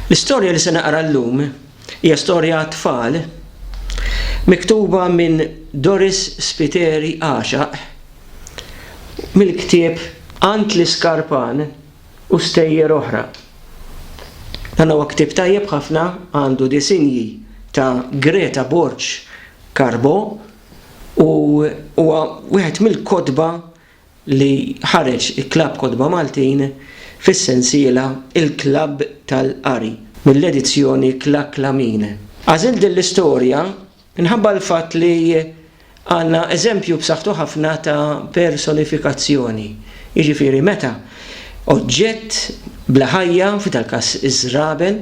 L-istorja li se naqra llum hija storja għat-tfal miktuba minn Doris Spiteri Għaxaq mill-ktieb Għand l-Iskarpan u Stejjer Oħra. Dan huwa ktieb tajjeb ħafna, għandu disinji ta' Greta Borg Carbo u huwa wieħed mill-kotba li ħareġ il-Klabb Kotba Maltin fis-sensiela Il-Klabb tal-Qari mill-edizzjoni Klaklamin. Għażilt din l-istorja minħabba l-fatt li għandna eżempju b'saħħtu ħafna ta' personifikazzjoni, jiġifieri meta oġġett bla ħajja, f'dal-każ iż-żraben,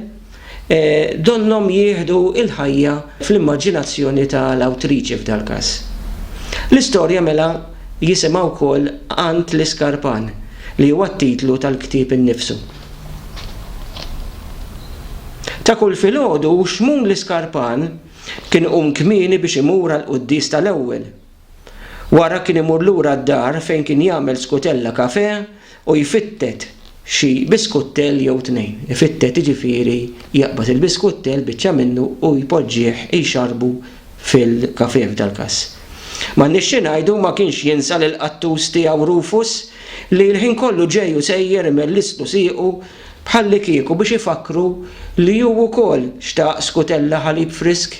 donnhom jieħdu l-ħajja fl-immaġinazzjoni ta' l-awtriċi f'dal-każ. L-istorja mela jisimha wkoll Għand l-iskarpan, li huwa t-titlu tal-ktieb innifsu. Ta' kull filgħodu Xmun l-iskarpan kien iqum kmieni biex imur għall-quddies ta' l-ewwel. Wara kien imur lura d-dar fejn kien jagħmel skutella kafè u jfittet xi biskuttel jew tnejn. Ifittet jiġifieri jaqbad il-biskuttel, biċċa minnu, u jpoġġih jxarrbu fil-kafè f'dal-każ. M'għandniex xi ngħidu, ma kienx jinsa lill-qattus tiegħu Rufus li l-ħin kollu ġej u sejjer imellistlu siequ bħallikieku biex ifakkru li hu wkoll xtaq skutella ħalib frisk.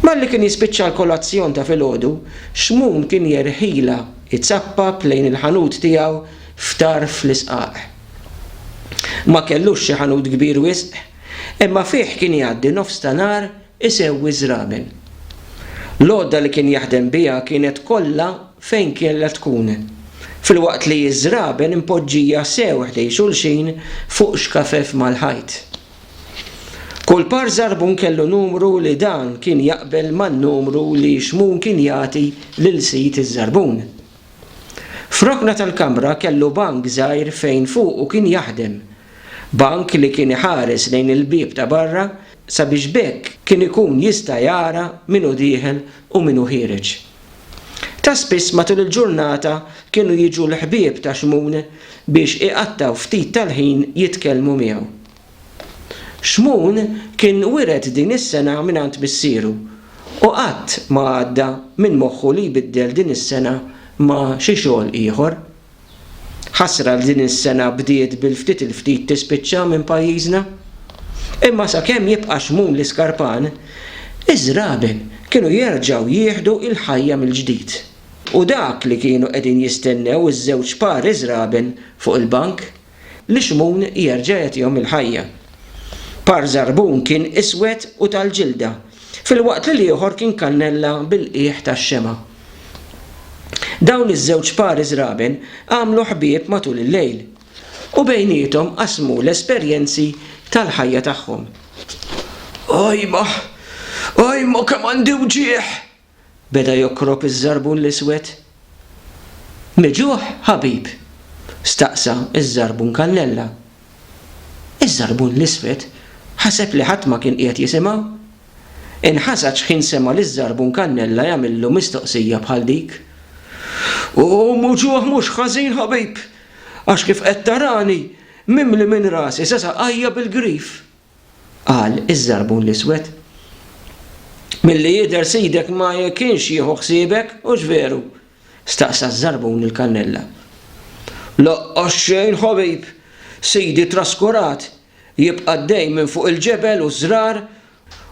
Malli kien jispiċċa l-kolazzjon ta' filgħodu, Xmun kien jerħilha jzappap lejn il-ħanut tiegħu f'tarf l-isqaq. Ma kellux xi ħanut kbir wisq, imma fih kien jgħaddi nofs ta' nhar isewwi ż-żraben. L-għodda li kien jaħdem biha kienet kollha fejn kellha tkun, filwaqt li ż-żraben impoġġija sew ħdejn xulxin fuq xkafef mal-ħajt. Kull par żarbun kellu numru li dan kien jaqbel man-numru li xmun kien jagħti lil sid iż-żarbun. F'rokna tal-kamra kellu bank żgħir fejn fuqu kien jaħdem, bank li kien iħares lejn il-bieb ta' barra sabiex b'hekk kien ikun jista' jara min hu dieħel u min hu ħiereġ. Ta' spiss matul il-ġurnata kienu jiġu l-ħbieb ta' Xmun biex iqattgħu ftit tal-ħin jitkellmu miegħu. Xmun kien wiret din is-sengħa mingħand missieru u qatt ma għadda minn moħħu li jbiddel din is-sengħa ma' xi xogħol ieħor. Ħasra li din is-sena bdiet bil-ftit il-ftit tispiċċa minn pajjiżna. Imma sakemm jibqa' xmun l-iskarpan, iż-żraben kienu jerġgħu jieħdu l-ħajja mill-ġdid. U dak li kienu qegħdin jistennew iż-żewġ pari żraben fuq il-bank. li Xmun jerġa' jagħtihom il-ħajja. Par żarbun kien iswed u tal-ġilda, filwaqt li l-ieħor kien kannella bil-qiegħ tax-xemgħa. Dawn iż-żewġ pari żraben għamlu ħbieb matul il-lejl, u bejniethom qasmu l-esperjenzi tal-ħajja tagħhom. Ajma! Ajma kemm għandi wġigħ! beda jokkrok iż-żarbun l-iswed. Miġugħ, ħabib? staqsa ż-żarbun kallella. Iż-żarbun l-iswed ħaseb li ħadd ma kien qiegħed jisimgħu. Inħasad x'ħin sema' liż-żarbun kannella jagħmillu mistoqsija bħal dik. U muġugħ mhux ħażin ħabib, għax kif qed tarani, mimli minn rasi sa saqajja bil-grif. Qal iż-żarbun l-iswed. Milli jidher sidek ma kienx jieħu ħsiebek, hux veru? staqsa ż-żarbun lill-kannella. Laqqas xejn ħabib, sidi traskurat jibqa' d-dejn minn fuq il-ġebel u ż-żrar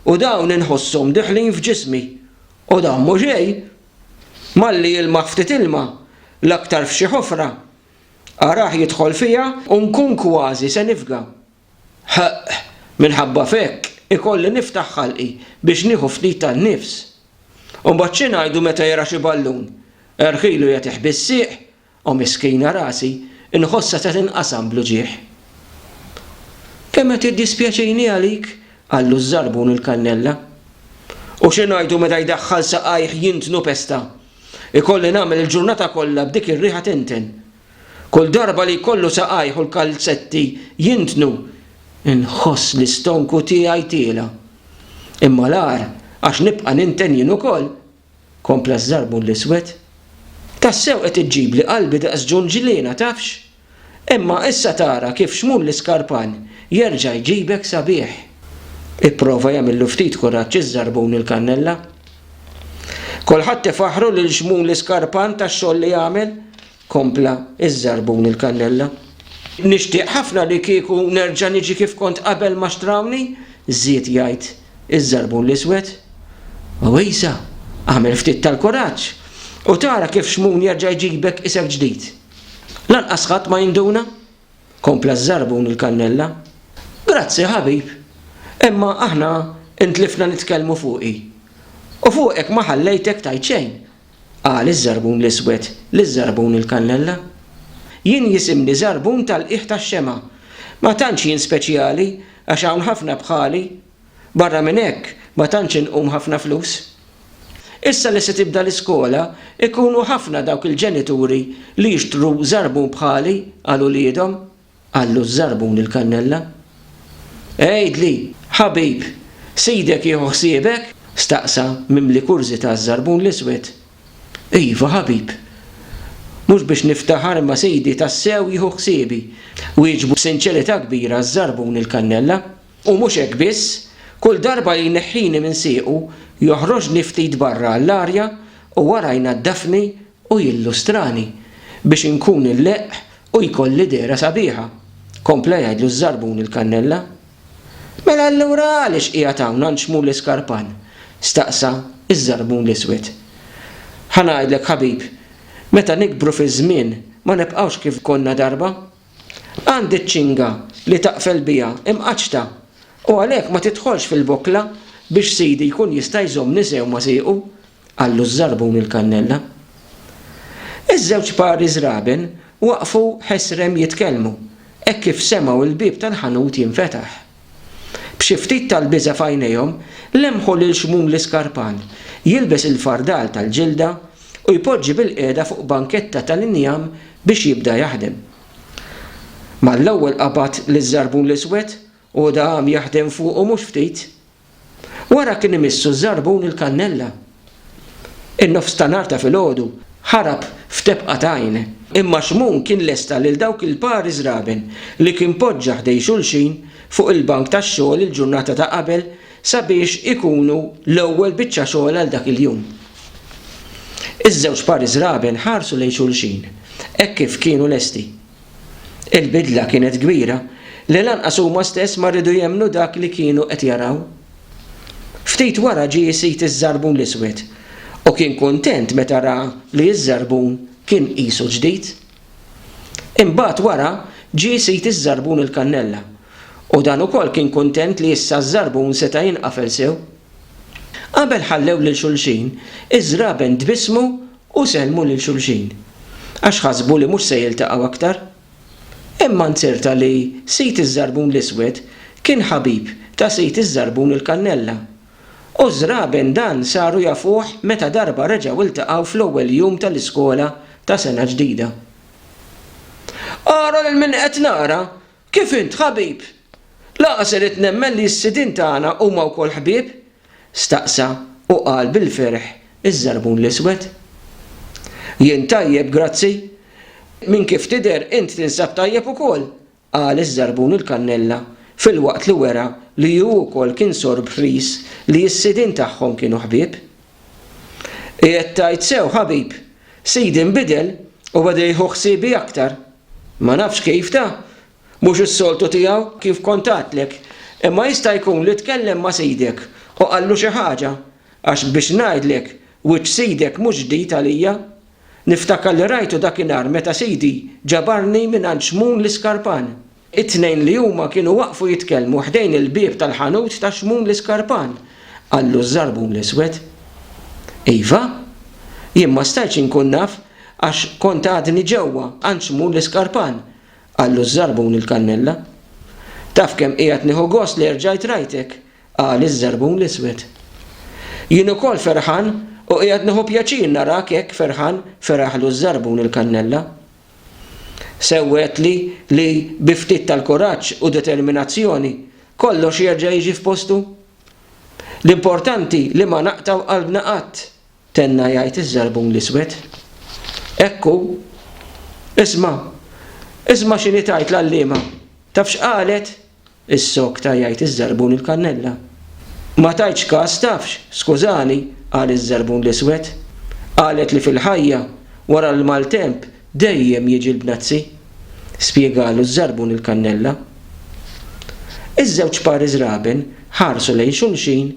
u dawn inħosshom diħlin f'ġismi. U dan mhu xejn! Malli jilmaħ ftit ilma, l-aktar f'xi ħofra, arah jidħol fiha u nkun kważi se nifga. Ħaqq, minħabba f'hekk ikolli niftaħ ħalqi biex nieħu ftit tan-nifs. U mbagħad xi ngħidu meta jara xi ballun, erħilu jagħtih bis-sieq, o miskina rasi, inħossha se tinqasam bl-uġigħ. Kemm qed tiddispjaċini għalik, qallu ż-żarbun il-kannella. U xi ngħidu meta jdaħħal saqajh jintnu pesta. Ikolli nagħmel il-ġurnata kollha b'dik ir-riħa tinten. Kull darba li jkollu saqajh u l-kalzetti jintnu, inħoss l-istonku tiegħi tiela'. Imma l-agħar għax nibqa' ninten jien ukoll, kompla ż-żarbun l-iswed. Tassew qed iġġibli qalbi daqs ġunġliena, tafx? Imma issa tara kif xmun l-iskarpan jerġa' jġibek sabiħ. Ipprova jagħmillu ftit kuraġġ iż-żarbun il-kannella. Kulħadd ifaħħru lil Xmuli Skarpan tax-xogħol li għamel, kompla ż-żarbun il-kannella. Nixtieq ħafna li kieku nerġa' niġi kif kont qabel ma xtrawni, żied jgħid iż-żarbun l-iswed. Għawisa, agħmel ftit tal-kuraġġ u tara kif Xmun jerġa' jġibek isek ġdid. Lanqas ħadd ma jinduna. Kompla ż-żarbun il-kannella. Grazzi ħabib, imma aħna ntlifna nitkellmu fuqi. U fuqek ma ħallejtek tgħid xejn, qal iż-żarbun l-iswed liż-żarbun il-kannella. Jien jisimni żarbun tal-qiegħ tax-xemgħa. Ma tantx jien speċjali għax hawn ħafna bħali. Barra minn hekk, ma tantx inqum ħafna flus. Issa li se tibda l-iskola, ikunu ħafna dawk il-ġenituri li jixtru żarbun bħali għal uliedhom. Qallu ż-żarbun il-kannella. Għidli, ħabib, sidek jieħu ħsiebek? staqsa mimli kurżità ż-żarbun l-iswed. Iva, ħabib. Mhux biex niftaħar imma sidi tassew jieħu ħsiebi, wieġbu b'sinċerità kbira ż-żarbun il-kannella. U mhux hekk biss, kull darba li jneħħini minn siequ, joħroġni ftit barra għall-arja u wara jnaddafni u jillustrani biex inkun il-leqq u jkolli dehra sabiħa, kompla jgħidlu ż-żarbun il-kannella. Mela allura għaliex qiegħed hawn għand Xmul Iskarpan? staqsa ż-żarbun l-iswed. Ħa ngħidlek ħabib, meta nikbru fiż-żmien ma nibqgħux kif konna darba. Għandi ċ-ċinga li taqfel biha imqaċċta, u għalhekk ma tidħolx fil-bokla biex sidi jkun jista' jżommni sew ma' siequ, qallu ż-żarbun il-kannella. Iż-żewġ pari żraben waqfu ħesrem jitkellmu hekk kif semgħu l-bieb tal-ħanut jinfetaħ. B'xi ftit tal-biża' f'għajnejhom, lemħu lil Xmun l-iskarpan jilbes il-fardal tal-ġilda u jpoġġi bilqiegħda fuq banketta tal-injam biex jibda jaħdem. Mal-ewwel qabad liż-żarbun l-iswed u hu daham jaħdem fuqu mhux ftit, Wara kien imissu ż-żarbun il-kannella. In-nofs ta' nhar ta' filgħodu ħarab f'tebqa t'għajn. Imma Xmun kien lesta lil dawk il-pari żraben li kien poġġa ħdej xulxin fuq il-bank tax-xogħol il-ġurnata ta' qabel sabiex ikunu l-ewwel biċċa xogħol għal dak il-jum. Iż-żewġ pari żraben ħarsu lejn xulxin hekk kif kienu lesti. Il-bidla kienet kbira li lanqas huma stess ma riedu jemmnu dak li kienu qed jaraw. Ftit wara ġie isid iż-żarbun l-iswed u kien kuntent meta ra li ż-żarbun kien qisu ġdid. Imbagħad wara ġie isid iż-żarbun il-kannella u dan ukoll kien kuntent li issa ż-żarbun seta' jinqafel sew. Qabel ħallew lil xulxin, iż-żraben tbissmu U sellmu lil xulxin, għax ħasbu li mhux se jiltaqgħu aktar. Imma nzerta li Sid iż-Żarbun l-Iswed kien ħabib ta' Sid iż-Żarbun il-Kannella. U ż-żraben dan saru jafuh meta darba reġgħu ltaqgħu fl-ewwel jum tal-iskola ta' sena ġdida. Ara lil min qed nara! Kif int ħabib! Lanqas irrid nemmen li s-sidien tagħna huma wkoll ħbieb, staqsa u qal bil-ferħ iż-żarbun l-iswed. Jien tajjeb grazzi. Minn kif tidher int tinsab tajjeb ukoll, qal iż-żarbun il-kannella filwaqt li wera li hu wkoll kien sorb ħris li s-sidien tagħhom kienu ħbieb. Qiegħed tgħid sew ħabib, sidi nbidel u beda jieħu ħsiebi aktar. Ma nafx kif ta, Mhux is-soltu tiegħu kif kont għadtlek, imma jista' jkun li tkellem ma' sidek u qallu xi ħaġa, għax biex ngħidlek, wiċċ sidek mhux ġdid għalija. Niftakar li rajtu dakinhar meta sidi ġabarni mingħand Xmun l-iskarpan. It-tnejn li huma kienu waqfu jitkellmu ħdejn il-bieb tal-ħanut ta' Xmun l-iskarpan, qallu ż-żarbun l-iswed. Iva! Jien ma stajtx inkun naf għax kont għadni ġewwa għand Xmun l-iskarpan, Qallu ż-żarbun il-kannella. Taf kemm qiegħed nieħu gost li erġajt rajtek, qal iż-żarbun l-iswed. Jien ukoll ferħan u qiegħed nieħu pjaċir narak hekk ferħan, feraħlu ż-żarbun il-kannella. Sewwetli li bi ftit tal-kuraġġ u determinazzjoni kollox jerġa' jiġi f'postu. L-importanti li ma naqtgħu qalbna qatt, Tenna jgħid iż-żarbun l-iswed. Hekk hu. Isma'! Isma' x'inhi tgħid l-għalliema! Taf x'qalet? issokta jgħid iż-żarbun il-kannella. Ma tajtx kas tafx, skużani, qal iż-żarbun l-iswed. Qalet li fil-ħajja, wara l-maltemp, dejjem jiġi l-bnazzi. Spjegalu ż-żarbun il-kannella. Iż-żewġ pari żraben ħarsu lejn xulxin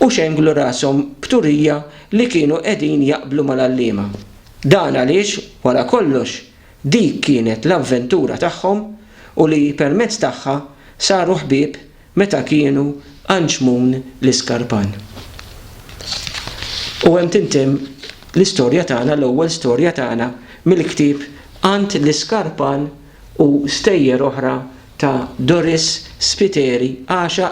u xenglu rashom b'turija li kienu qegħdin jaqblu mal-għalliema. Dan għaliex, wara kollox, dik kienet l-avventura tagħhom u li permezz tagħha saru ħbieb meta kienu Anġmun l-Iskarpan. U hemm tintemm l-istorja tagħna, l-ewwel storja tagħna mill-ktieb Għand l-Iskarpan u stejjer oħra ta' Doris Spiteri, għaxaq.